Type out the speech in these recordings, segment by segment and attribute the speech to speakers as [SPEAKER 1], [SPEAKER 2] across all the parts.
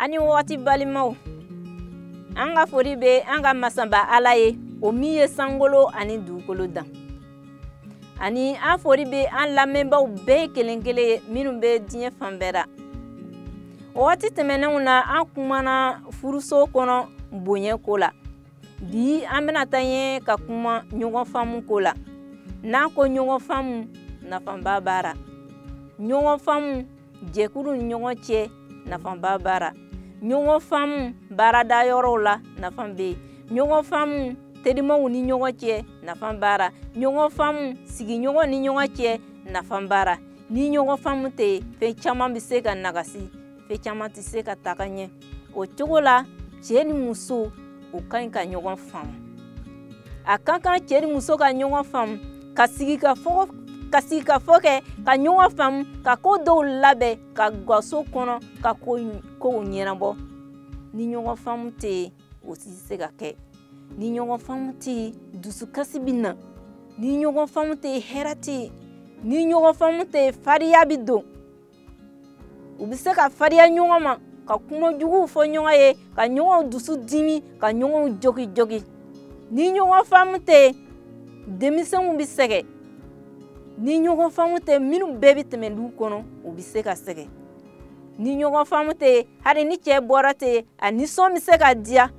[SPEAKER 1] a ni wagati balimaw an ka fori bɛ an ka masaba ala ye o min ye sankolo ani dugukolo dan ani an fori bɛ an lamɛnbaaw bɛɛ kelen kelen ye minnu bɛ diɲɛ fan bɛɛ la wagati tɛmɛnenw na an kumana furuso kɔnɔ bonya ko la bi an bɛna taa ɲɛ ka kuma ɲɔgɔn faamu ko la n'an ko ɲɔgɔn faamu nafaba b'a ra ɲɔgɔn faamu jɛkulu ni ɲɔgɔn cɛ nafaba b'a ra ɲɔgɔn faamu baarada yɔrɔw la nafa bɛ yen ɲɔgɔn faamu terimaw ni ɲɔgɔn cɛ nafa b'a ra ɲɔgɔn faamu sigiɲɔgɔn ni ɲɔgɔn cɛ nafa b'a ra ni ɲɔgɔn faamu tɛ yen fɛn caman bɛ se ka nagasi fɛn caman tɛ se ka taga ɲɛ o cogo la cɛ ni muso u ka ɲi ka ɲɔgɔn faamu a ka kan cɛ ni muso ka ɲɔgɔn faamu ka sigikafɔ kɛ ka ɲɔgɔn faamu ka ko dɔw labɛn ka gaso kɔnɔ ka kow ɲɛnabɔ ni ɲɔgɔn faamu tɛ yen o tɛ se ka kɛ ni ɲɔgɔn faamu tɛ yen dusukasi bɛ na ni ɲɔgɔn faamu tɛ yen hɛrɛ tɛ yen ni ɲɔgɔn faamu tɛ yen fariya bɛ don u bɛ se ka fariya ɲɔgɔn ma ka kuma juguw fɔ ɲɔgɔn ye ka ɲɔgɔn dusu dimi ka ɲɔgɔn jogi jogi ni ɲɔgɔn faamu tɛ yen denmisɛnw bɛ sɛgɛn ni ɲɔgɔn faamu tɛ minnu bɛɛ bɛ tɛmɛ du kɔnɔ u bɛ se ka sɛgɛn ni ɲɔgɔn faamu tɛ yen hali ni cɛ bɔra tɛ yen a nisɔn bɛ se ka diya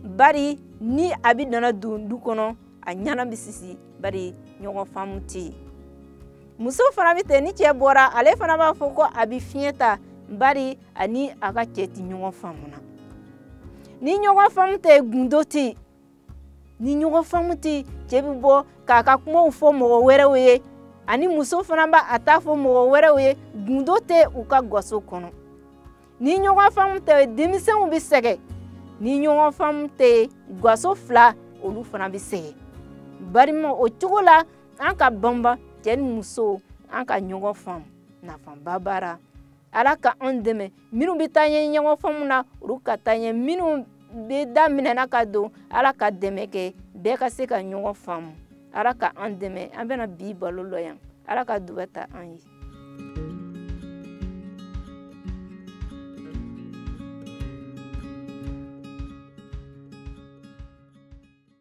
[SPEAKER 1] bari ni a bɛ nana don du kɔnɔ a ɲana bɛ sisi bari ɲɔgɔn faamu tɛ yen muso fana bɛ ten ni cɛ bɔra ale fana b'a fɔ ko a bɛ fiɲɛ ta bari a ni a ka cɛ ti ɲɔgɔn faamu na ni ɲɔgɔn faamu tɛ gundo tɛ yen ni ɲɔgɔn faamu tɛ yen cɛ bɛ bɔ k'a ka kumaw fɔ mɔgɔ wɛrɛw ye ani muso fana b'a ta fɔ mɔgɔ wɛrɛw ye gundo tɛ u ka gaso kɔnɔ ni ɲɔgɔn faamu tɛ denmisɛnw bɛ sɛgɛn ni ɲɔgɔn faamu tɛ gaso fila olu fana bɛ sɛgɛn balimaw o cogo la an ka banba cɛ ni muso an ka ɲɔgɔn faamu nafaba b'a ra ala ka an dɛmɛ minnu bɛ taa ɲɛ ɲɔgɔn faamu na olu ka taa ɲɛ minnu bɛ daminɛ na ka don ala ka dɛmɛ kɛ bɛɛ ka se ka ɲɔgɔn faamu ala ka an dɛmɛ an bɛna bi baro lɔ yan ala ka duba ta an ye